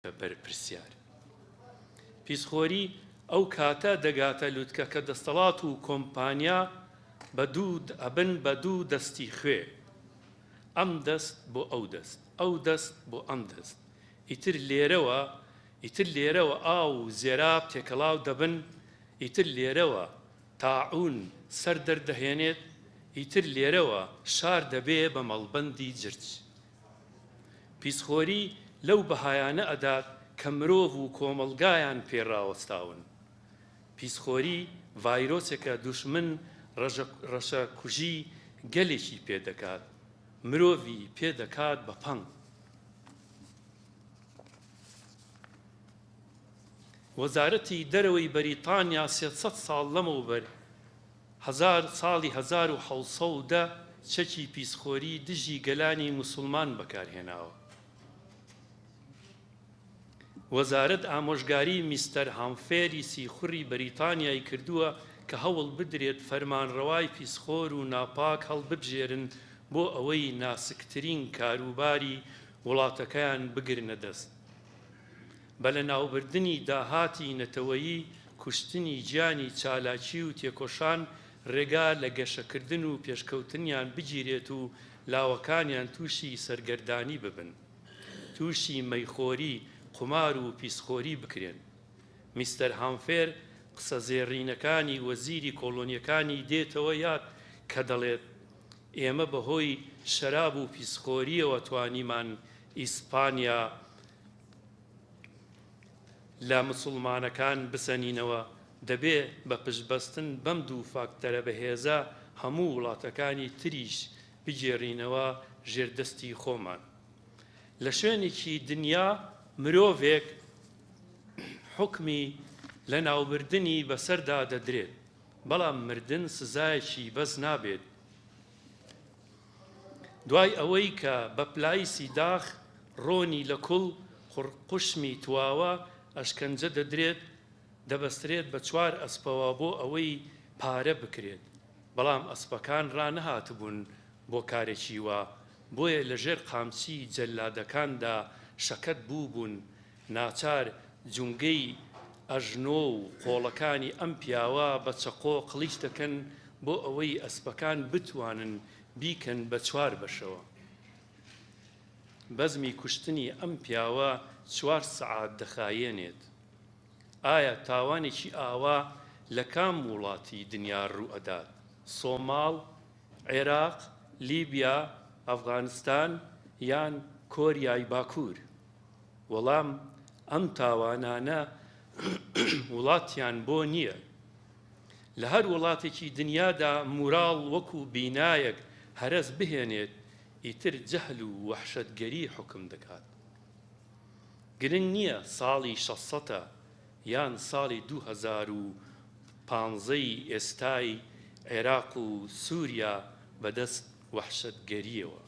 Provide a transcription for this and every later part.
بەرپرسیار پیسخۆری ئەو کاتە دەگاتە لوتکە کە دەستەڵات و کۆمپانیا بە دوو ئەبن بە دوو دەستی خوێ ئەم دەست بۆ ئەو دەست ئەو دەست بۆ ئەم دەست ئیتر لێرەوە ئیتر لێرەوە ئاو و زێراب تێکەڵاو دەبن ئیتر لێرەوە تاعون سەر دەردەهێنێت ئیتر لێرەوە شار دەبێ بە مەڵبەندی جرج پیسخۆری لەو بەهایانە ئەدات کە مرۆڤ و کۆمەڵگایان پێ ڕاوەستاون. پیسخۆری ڤایرۆسێکە دوژمن ڕەشەکوژی گەلێکی پێ دەکات، مرۆڤی پێ دەکات بە پەنگ. وەزارەتی دەرەوەی بەریتانیا سێ سەد ساڵ لەمەوبەر هەزار ساڵی هەزار و حەوت سەد و دە چەکی پیسخۆری دژی گەلانی موسڵمان بەکارهێناوە. وەزارەت ئامۆژگاری میستەر هامفێری سیخوڕی بەریتانیای کردووە کە هەوڵ بدرێت فەرمانڕەوای پیسخۆر و ناپاک هەڵببژێرن بۆ ئەوەی ناسکترین کاروباری وڵاتەکەیان بگرنە دەست. بە لەناوبردنی داهاتی نەتەوەیی، کوشتنی گیانی چالاکی و تێکۆشان رێگا لە گەشەکردن و پێشکەوتنیان بگیرێت و لاوەکانیان تووشی سەرگەردانی ببن، تووشی مەیخۆری، قومار و پیسخۆری بکرێن. میستەر هامفێر قسە زێڕینەکانی وەزیری کۆڵۆنیەکانی دێتەوە یاد کە دەڵێت، ئێمە بەهۆی شەراب و پیسخۆریەوە توانیمان ئیسپانیا لە مسوڵمانەکان بسەنینەوە، دەبێ بە پشتبەستن بەم دوو فاکتەرە بەهێزە هەموو وڵاتەکانی تریش بگێڕینەوە ژێر دەستی خۆمان. لە شوێنێکی دنیا مرۆڤێک حوکمی لەناوبردنی بەسەردا دەدرێت، بەڵام مردن سزایەکی بەس نابێت. دوای ئەوەی کە بە پلایسی داخ ڕۆنی لە کوڵ قوڕقوشمی تواوە ئەشکەنجە دەدرێت دەبەسترێت بە چوار ئەسپەوە بۆ ئەوەی پارە بکرێت بەڵام ئەسپەکان ڕانەهاتبوون بۆ کارێکی وا بۆیە لە ژێر قامچی جەلادەکاندا شەکەت بووبوون ناچار جومگەی ئەژنۆ و قۆڵەکانی ئەم پیاوە بە چەقۆ قڵیچ دەکەن بۆ ئەوەی ئەسپەکان بتوانن بیکەن بە چوار بەشەوە. بەزمی کوشتنی ئەم پیاوە چوار سەعات دەخایێنێت. ئایا تاوانێکی ئاوا لە کام وڵاتی دنیا ڕوو ئەدات؟ سۆماڵ؟ عێراق؟ لیبیا؟ ئەفغانستان؟ یان کۆریای باکوور؟ وەڵام، ئەم تاوانانە وڵاتیان بۆ نییە. لە هەر وڵاتێکی دنیادا موراڵ وەکو بینایەک هەرەس بهێنێت، ئیتر جەهل و وەحشەتگەری حوکم دەکات. گرنگ نییە ساڵی شەست سەتە یان ساڵی دوو هەزار و پانزەی ئێستای عێراق و سوریا بەدەست وەحشەتگەرییەوە.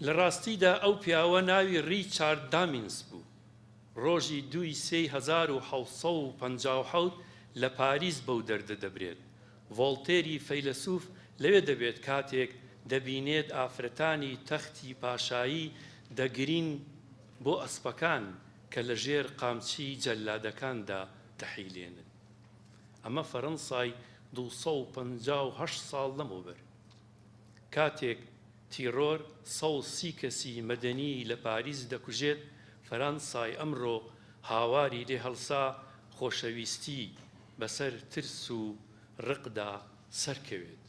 لە ڕاستیدا ئەو پیاوە ناوی ڕیچارد دامینس بوو، ڕۆژی دوو ی سێی هەزار و حەوت سەد و پەنجا و حەوت لە پاریس بەو دەردە دەبرێت، ڤۆڵتێری فەیلەسوف لەوێ دەبێت کاتێک دەبینێت ئافرەتانی تەختی پاشایی دەگرین بۆ ئەسپەکان کە لە ژێر قامچی جەللادەکاندا دەحیلێنن. ئەمە فەرەنسای دوو سەد و پەنجا و هەشت ساڵ لەمەوبەر، کاتێک تیڕۆر سەد و سی کەسی مەدەنی لە پاریس دەکوژێت، فەرەنسای ئەمرۆ هاواری لێ هەڵسا خۆشەویستی بەسەر ترس و ڕقدا سەرکەوێت.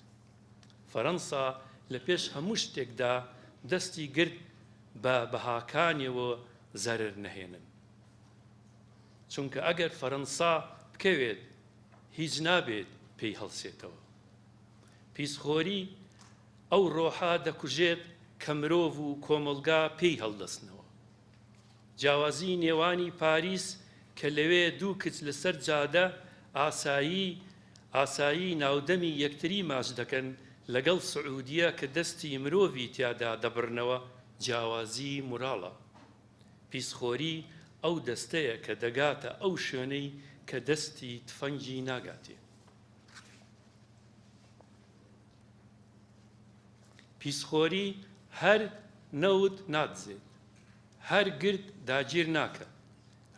فەرەنسا لە پێش هەموو شتێکدا دەستی گرت بە بەهاکانیەوە زەرەر نەهێنن. چونکە ئەگەر فەرەنسا بکەوێت هیچ نابێت پێی هەڵسێتەوە پیسخۆری ئەو ڕۆحە دەکوژێت کە مرۆڤ و کۆمەڵگا پێی هەڵدەستنەوە جیاوازی نێوانی پاریس کە لەوێ دوو کچ لەسەر جادە ئاسایی ئاسایی ناودەمی یەکتری ماچ دەکەن لەگەڵ سعودیە کە دەستی مرۆڤی تیادا دەبڕنەوە جیاوازی موراڵە. پیسخۆری ئەو دەستەیە کە دەگاتە ئەو شوێنەی کە دەستی تفەنگی ناگاتێ. پیسخۆری هەر نەوت نادزێت، هەر گرد داگیر ناکات.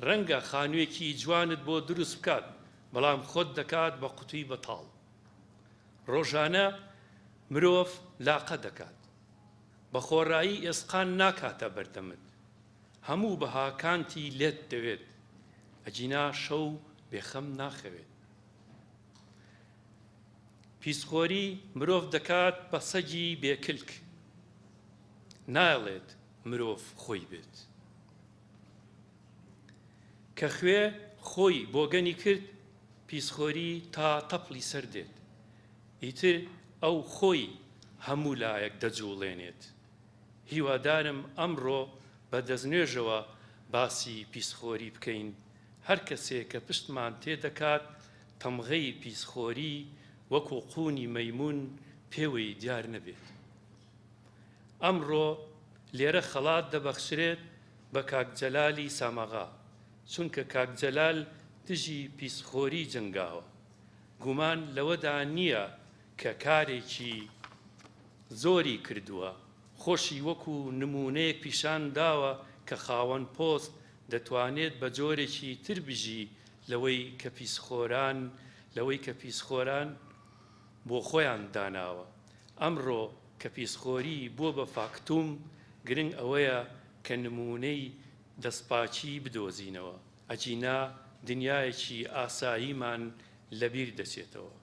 رەنگە خانوێکی جوانت بۆ دروست بکات، بەڵام خۆت دەکات بە قوتوی بەتاڵ. رۆژانە مرۆڤ لاقە دەکات. بە خۆڕایی ئێسقان ناکاتە بەردەمت هەموو بەهاکانتی لێت دەوێت ئەگینا شەو بێ خەم ناخەوێت پیسخۆری مرۆڤ دەکات بە سەگی بێ کلک نایڵێت مرۆڤ خۆی بێت کە خوێ خۆی بۆگەنی کرد پیسخۆری تا تەپڵی سەر دێت ئیتر ئەو خۆی هەموو لایەک دەجوڵێنێت. هیوادارم ئەمڕۆ بە دەستنوێژەوە باسی پیسخۆری بکەین، هەر کەسێک کە پشتمان تێ دەکات تەمغەی پیسخۆری وەکو قوونی مەیموون پێوەی دیار نەبێت. ئەمڕۆ لێرە خەڵات دەبەخشرێت بە کاک جەلالی ساماغا، چونکە کاک جەلال دژی پیسخۆری جەنگاوە. گومان لەوەدا نییە کە کارێکی زۆری کردووە، خۆشی وەکو نموونەیەک پیشان داوە کە خاوەن پۆست دەتوانێت بە جۆرێکی تر بژی لەوەی کە پیسخۆران لەوەی کە پیسخۆران بۆ خۆیان داناوە. ئەمڕۆ کە پیسخۆری بووە بە فاکتوم، گرنگ ئەوەیە کە نموونەی دەستپاکی بدۆزینەوە. ئەگینا دنیایەکی ئاساییمان لەبیر دەچێتەوە.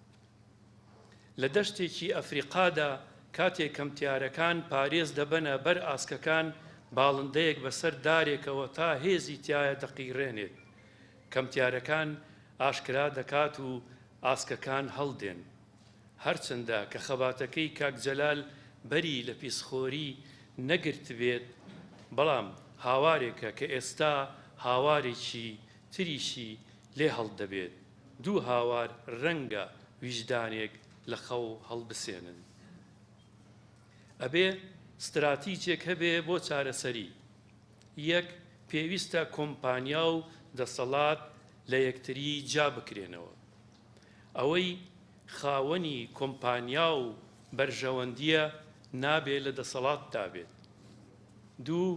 لە دەشتێکی ئەفریقادا کاتێک کەمتیارەکان پارێز دەبەنە بەر ئاسکەکان، باڵندەیەک بەسەر دارێکەوە تا هێزی تایە دەقیڕێنێت. کەمتیارەکان ئاشکرا دەکات و ئاسکەکان هەڵدێن. هەرچەندە کە خەباتەکەی کاک جەلال بەری لە پیسخۆری نەگرتبێت، بەڵام هاوارێکە کە ئێستا هاوارێکی تریشی لێ هەڵدەبێت، دوو هاوار رەنگە ویژدانێک لە خەو هەڵبسێنن. ئەبێ ستراتیجێک هەبێ بۆ چارەسەری. یەک، پێویستە کۆمپانیا و دەسەڵات لە یەکتری جیا بکرێنەوە. ئەوەی خاوەنی کۆمپانیا و بەرژەوەندییە نابێ لە دەسەڵاتدا بێت. دوو،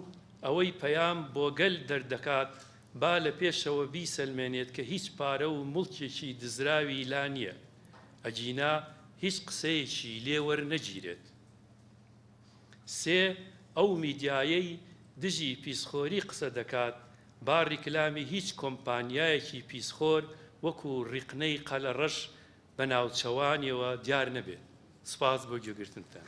ئەوەی پەیام بۆ گەل دەردەکات با لە پێشەوە بیسەلمێنێت کە هیچ پارە و موڵکێکی دزراوی لا نییە، ئەگینا هیچ قسەیەکی لێ وەرنەگیرێت. سێ، ئەو میدیایەی دژی پیسخۆری قسە دەکات، با ڕیکلامی هیچ کۆمپانیایەکی پیسخۆر وەکو ڕیقنەی قەلەڕەش بە ناوچەوانیەوە دیار نەبێت. سپاس بۆ گوێگرتنتان.